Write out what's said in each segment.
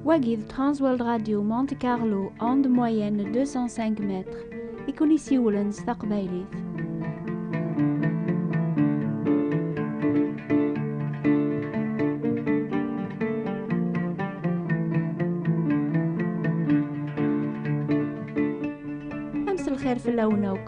Wagi d Transworld Radio Monte Carlo onde moyenne 205 mètres i kun isiwlen s taqbaylit. Amselxir fell-awen akk.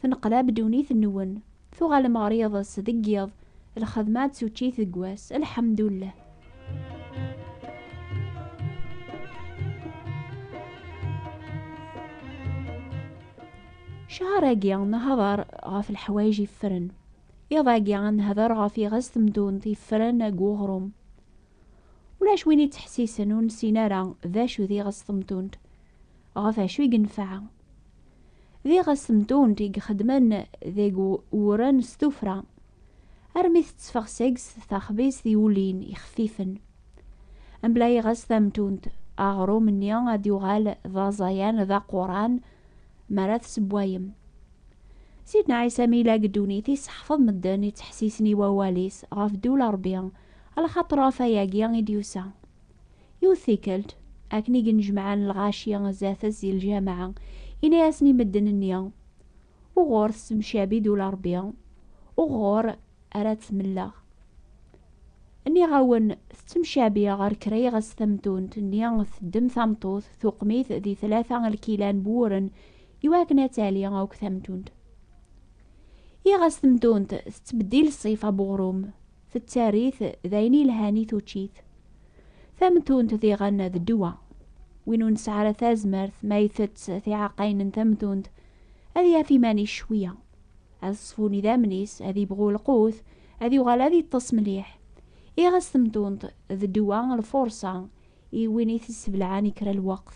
Tenqlab ddunit-nwen, tuɣalem ɣer yiḍes deg yiḍ, lxedma d tuččit deg wass, lḥemdullah. Cahar-agi nehder ɣef leḥwayeǧ yeffren, iḍ-agi ad nehder ɣef iɣes temdunt yeffren deg uɣrum. Ulac win yettḥessisen ur nessin ara d acu d iɣes temdunt, ɣef acu i yenfeɛ. Diɣ asemtunt i ixeddmen deg wuren s tufra, armi tettfeɣ seg-s taxbizt i ulin ixeffifen. Mebla iɣes tamtunt, aɣrum-nni ad d-yuɣal d aẓayan d aquran mi ara tessewwayem. Sidna Ɛisa mi yella deg ddunit, yesseḥfeḍ medden ittḥessisen i wawal-is ɣef ddula Rebbi, alaxaṭer ɣef ayagi i d-yusa. Yiwet tikkelt, akken i gennejmaɛen lɣaci zdat-s di lǧameɛ, yenna-yasen i medden-nni, Uɣur tessemcabi-d ula Ṛebbi, uɣur ara tt-melleɣ? Nniɣ-awen, tettemcabi ɣer kra iɣes tamtunt-nni, teddem tameṭṭut, tuqem-it di tlata lkila n wuren, iwakken ad tali akk tamtunt. Iɣes temtunt tettbeddil ṣṣifa n uɣrum. tettarit d ayen ilhan i tuččit. Tamtunt diɣen d ddwa. Win ur nesɛi ara tazmert ma itett tiɛaqayin n tamtunt ad yaf iman-is cwiya. Ad ṣfun idammen-is, ad ibɣu lqut, ad yuɣal ad iṭṭes mliḥ. Iɣes temtunt d ddwa, lfurṣa, i win i t-isseblaɛen i kra n lweqt.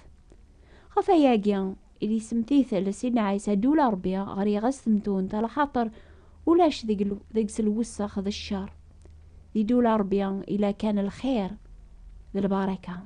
Ɣef wayagi i d isemtitel Sidna Ɛisa Ddula n Rebbi ɣer yiɣes temtunt, alaxaṭer ulac deg-s lwessex d ccer. Di Ddula n Rebbi yella kan lxir d lbaraka.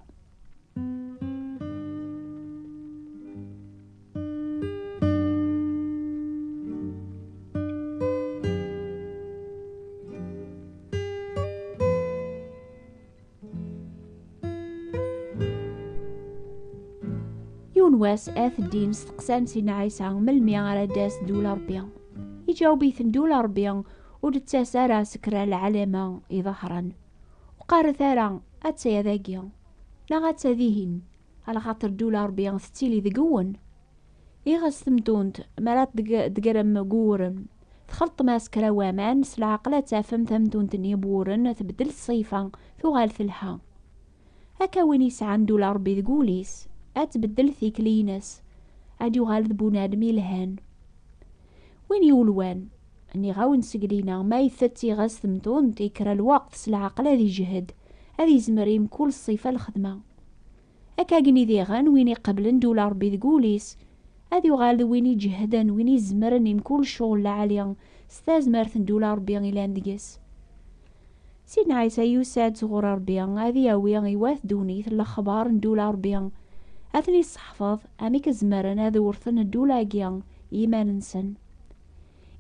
yiwen wass at ddin steqsan si Ɛisa melmi ara d-tas ddula Ṛebbi iǧaweb-iten ddula Ṛebbi ur d-tettas ara seg kra lɛalama iḍehren ur qqaret ara atta dagi neɣ atta dihin alxaṭer ddula Ṛebbi tettili deg-wen I ɣas temtunt, mi ara d-tegrem wuren, txalṭem-as kra waman, s leɛqel ad tafem tamtunt-nni n wuren tbeddel ṣṣifa, tuɣal telha. Akka win yesɛan ddula n Rebbi deg wul-is, ad tbeddel tikli-ines, ad d-yuɣal d bunadem yelhan. Win yulwan, nniɣ-awen seg dinna, ma itett i ɣas temtunt, yekker lweqt, s leɛqel ad ijhed, ad izmer i mkul ṣṣifa lxedma. Akka gen i diɣen win iqeblen dula Rebbi deg wul-is, ad yuɣal d win iǧehden, win izemren i mkul cɣel lɛali, s tazmert n dula Rebbi ilan deg-s. Sidna Ɛisa yusa-d sɣur Rebbi ad yawi i wat ddunit lexbar n dula Rebbi, ad ten-isseḥfeḍ amek zemren ad wrten ddula-agi i yiman-nsen.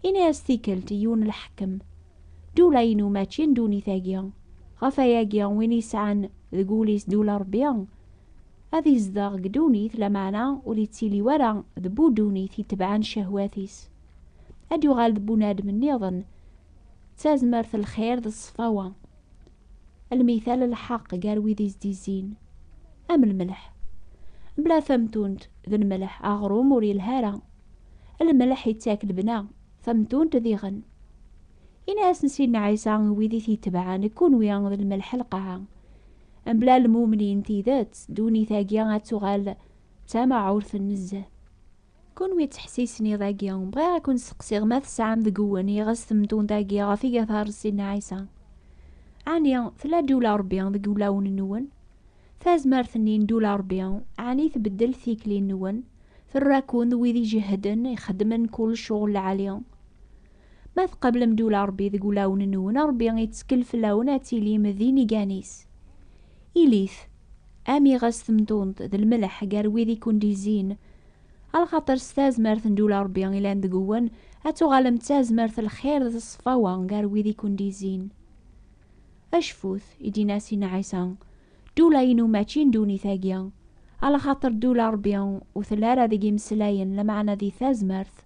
Ini-as tikkelt i yiwen n lḥekkem, Ddula-inu mačči n ddunit-agi, ɣef wayagi win yesɛan deg wul-is ddula Rebbi, ad izdeɣ deg ddunit, lameɛna ur ittili wara d bu ddunit itebɛen ccehwat-is. Ad yuɣal d bunadem nniḍen, d tazmert n lxir d ṣṣfawa. Lmital n lḥeqq gar wid i s-d-izzin, am lmelḥ. Mebla tamtunt d lmelḥ, aɣrum ur yelhi ara. Lmelḥ ittak lebna, tamtunt diɣen. Ini-asen Sidna Ɛisa i wid i t-itebɛen, kunwi d lmelḥ n lqaɛa. Mebla lmumni n tidet, ddunit-agi ad tuɣal d tamaɛurt nezzeh. Kunwi ttḥessisen iḍ-agi, bɣiɣ ad ken-steqsiɣ ma tesɛam deg-wen iɣes temtunt-agi ɣef iga tares Sidna Ɛisa? Ɛni tella-d ula Rebbi deg wulawen-nwen? Tazmert-nni n Dula Ṛebbi ɛni tbeddel tikli-nwen? Terra-ken d wid ijehden, ixeddmen kull ccɣel lɛali. Ma tqablem Dula Ṛebbi deg wulawen-nwen, Ṛebbi ittkel fell-awen ad tilim d inigan-is. Ilit, am iɣes temtunt, d lmelḥ gar wid i ken-d-izzin. Alxaṭer s tazmert n Dula Ṛebbi ilan deg-wen, ad tuɣalem d tazmert n lxir d ṣṣfawa gar wid i ken-d-izzin. Acfut, i d-inna Sina Ɛisa, ddula-inu mačči n ddunit-agi, alaxaṭer ddula Ṛebbi ur telli ara deg imeslayen, lameɛna di tazmert.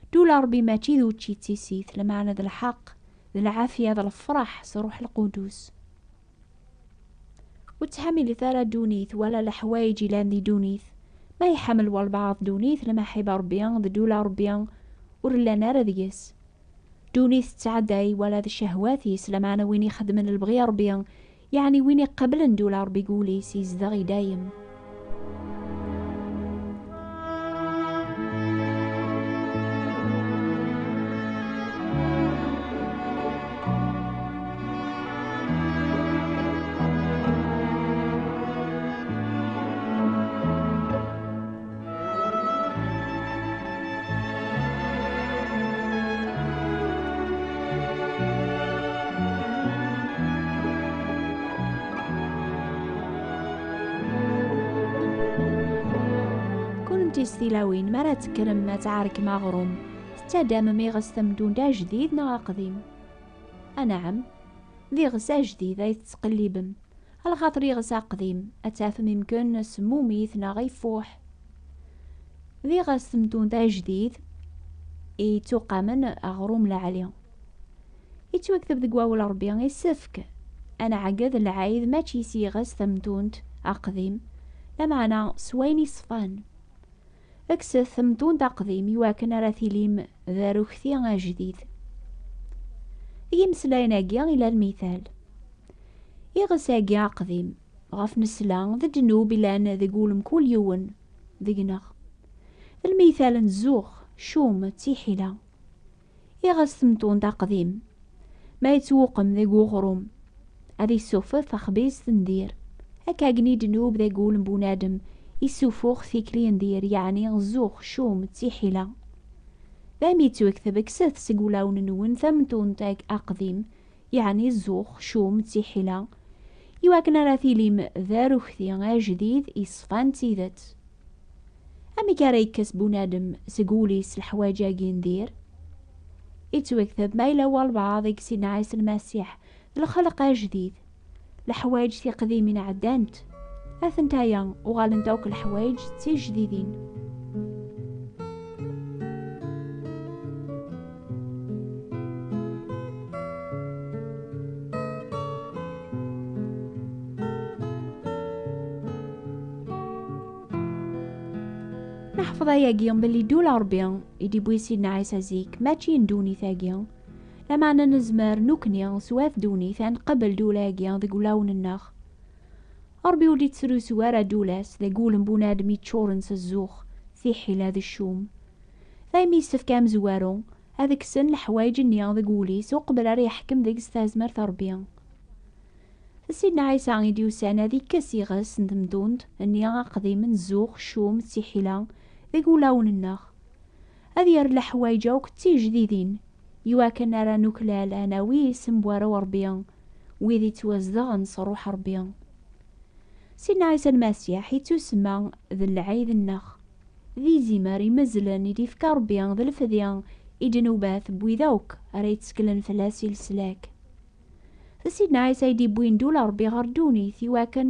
Ddula Ṛebbi mačči d učči d tissit, lameɛna d lḥeqq, d lɛafya, d lefṛeḥ s Ṛṛuḥ Lqudus. Ur ttḥamilet ara ddunit, wala leḥwayeǧ ilan di ddunit. Ma iḥamel walbaɛḍ ddunit, lmaḥiba Ṛebbi d ddula Ṛebbi ur llan ara deg-s. Duni tettɛadday wala d cehwat-is, lameɛna win ixedmen lebɣi Ṛebbi, yeɛni win iqeblen dula Ṛebbi deg wul-is, izdeɣ i dayem. kennemti s tilawin mi ara tekkrem ad tɛerkem aɣrum tettadamem iɣes tamdunda ajdid neɣ aqdim anɛam d iɣes ajdid ay tettqellibem A lxaṭer iɣes aqdim, ad tafem imken semmumit neɣ ifuḥ. D iɣes temtunt ajdid i yettuqamen aɣrum lɛali. Yettwakteb deg wawel Rebbi, isefk ad nɛegged lɛid mačči s yiɣes tamtunt aqdim, lameɛna s wayen iṣfan. Kkset amdund aqdim i wakken ara tilim d arukti ajdid. Deg yimeslayen-agi i la lmithal. Iɣes-agi aqdim, ɣef nesla, d ddnub i lan deg wul mkul yiwen deg-neɣ. D lmithal n zzux, cum, d tiḥila. iɣes temtunt aqdim ma yettwuqem deg uɣrum ad isuffef axbizt n dir akka gen i ddnub deg ul n bunadem isuffux tikli n dir yeɛni zzux, cum, d tiḥila d ayen yettwekteb kkset seg ulawen nwen tamtunt aqdim yeɛni zzux, cum, d tiḥila, i wakken ara tilim d arukti ajdid yeṣfan tidet. Amek ara yekkes bunadem seg wul-is leḥwaǧ-agi n dir? Ittwekteb ma yella walbaɛḍ i yessin Ɛisa Lmasiḥ d lxelq ajdid, leḥwayeǧ tiqdimin ɛeddant, atent aya uɣalent akk leḥwayeǧ d tijdidin. Neḥfeḍ ayagi belli ddula Ṛebbi i d-iwwi Sidna Ɛisa zik mačči n ddunit-agi, Lameɛna nezmer nekkni s wat ddunit ad nqabel ddula-agi deg wulawen-nneɣ. Ṛebbi ur d-ittrusu ara ddula-s deg wul n bunadem yeččuṛen s zzux, tiḥila d ccum. Daymi yessefk i amezwaru ad kksen leḥwayeǧ-nni deg wul-is uqbel ara yeḥkem deg-s tazmert n Ṛebbi. D Sidna Ɛisa i d-yusan ad ikkes iɣes n temdunt-nni aqdim n zzux, ccum d tiḥila deg wulawen-nneɣ. Ad yerr leḥwayeǧ akk d tijdidin, i wakken ara nuklal ad nawi isem n warraw Ṛebbi, wid ittwazedɣen s Ṛuḥ Ṛebbi. Sidna Ɛisa Lmasiḥ ittusemma d lɛid-nneɣ, d izimer imezzlen i d-ifka Ṛebbi d lefdi i ddnubat n wid akk ara yetteklen fell-as i leslak. D Sidna Ɛisa i d-iwwin ddula n Ṛebbi ɣer ddunit i wakken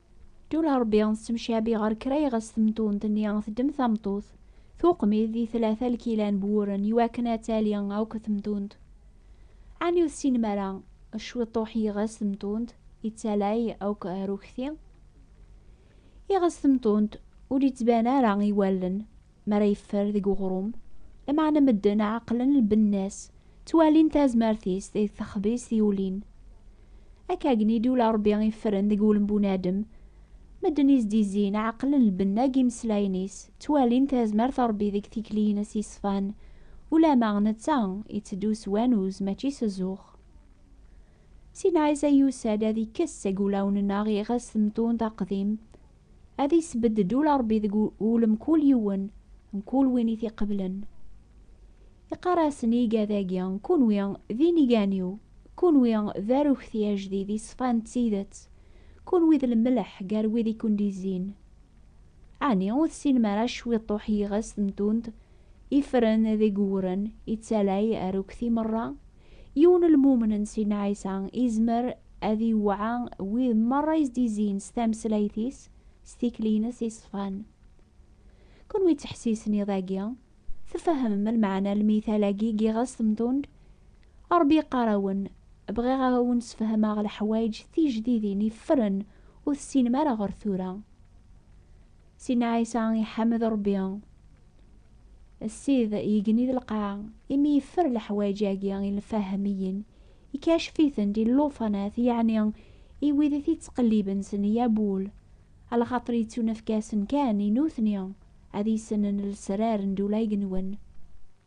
Ddul a Rebbi tettemcabi ɣer kra iɣes temtunt-nni teddem tameṭṭut, tuqmid di tlata lkila n buwren iwakken ad tali akk temtunt. Ɛni ur tessinem ara cwiṭuḥ yiɣes temtunt yettalay akk arekti? Iɣes temtunt ur yettban ara i wallen, Mi ara yeffer deg uɣrum, lameɛna medden ɛeqlen lbenna-s, ttwalin tazmert-is deg texbizt yulin. Akkagen i d-yula Rebbi iffren deg wul n bunadem, medden i s-d-izzin ɛeqlen lbenna deg yimeslayen-is, ttwalin tazmert n Rebbi deg tikliyin-is yeṣfan, ulamma netta iteddu s wanuz mačči s zzux. Sinaɛisa yusa-d ad ikkes seg wulawen-nneɣ iɣes temtunt aqdim, Ad isbedd ddula Ṛebbi deg ul mkul yiwen, mkul win i t-iqeblen. Iqqar-asen i igad-agi, Kunwi d inigan-iw, kunwi d arekti ajdid iṣfan d tidet, kunwi d lmelḥ gar wid i ken-d-izzin. Ɛni ur tessinem ara cwiṭuḥ yiɣes temtunt ifren deg uwren, ittalay arekti meṛṛa? Yiwen lmumen n Sidna Ɛisa izmer ad iwɛa wid merra i s-d-izin s tameslayt-is, s tikli-ines iṣfan. Kunwi ttḥessisen iḍ-agi, tfehmem lmeɛna n lmital-agi i giɣes temtund? Rebbi iqqar-awen, Bɣiɣ ad awen-sfehmeɣ leḥwayeǧ tijdidin iffren ur tessinem ara ɣer tura. Sina Ɛisa iḥmed Ṛebbi, Ssid igenni d lqaɛ. Imi yeffer leḥwaǧ-agi i lfahmiyen, ikacef-itent i llufanat, yeɛni i wid i t-ittqelliben s neyabul, alxaṭer yettunefk-asen kan i nutni ad issnen lesrar n dula igenwen.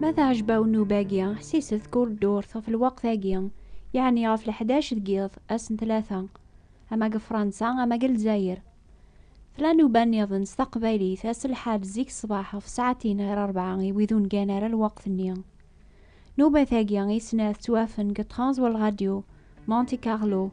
Ma teɛjeb-awen nnuba-agi, ḥsiset kul ddurt ɣef lweqt-agi, yeɛni ɣef leḥdac deg yiḍ, ass n tlata, ama deg Fransa ama deg Lezzayer. Tella nnuba nniḍen s taqbaylit, ass n lḥad zik ṣṣbeḥ ɣef ssaɛtin ɣer rebɛa i wid ur ngan ara lweqt-nni. Nnuba-tagi i snat ttwafen deg Trans World Radio, Monte Carlo,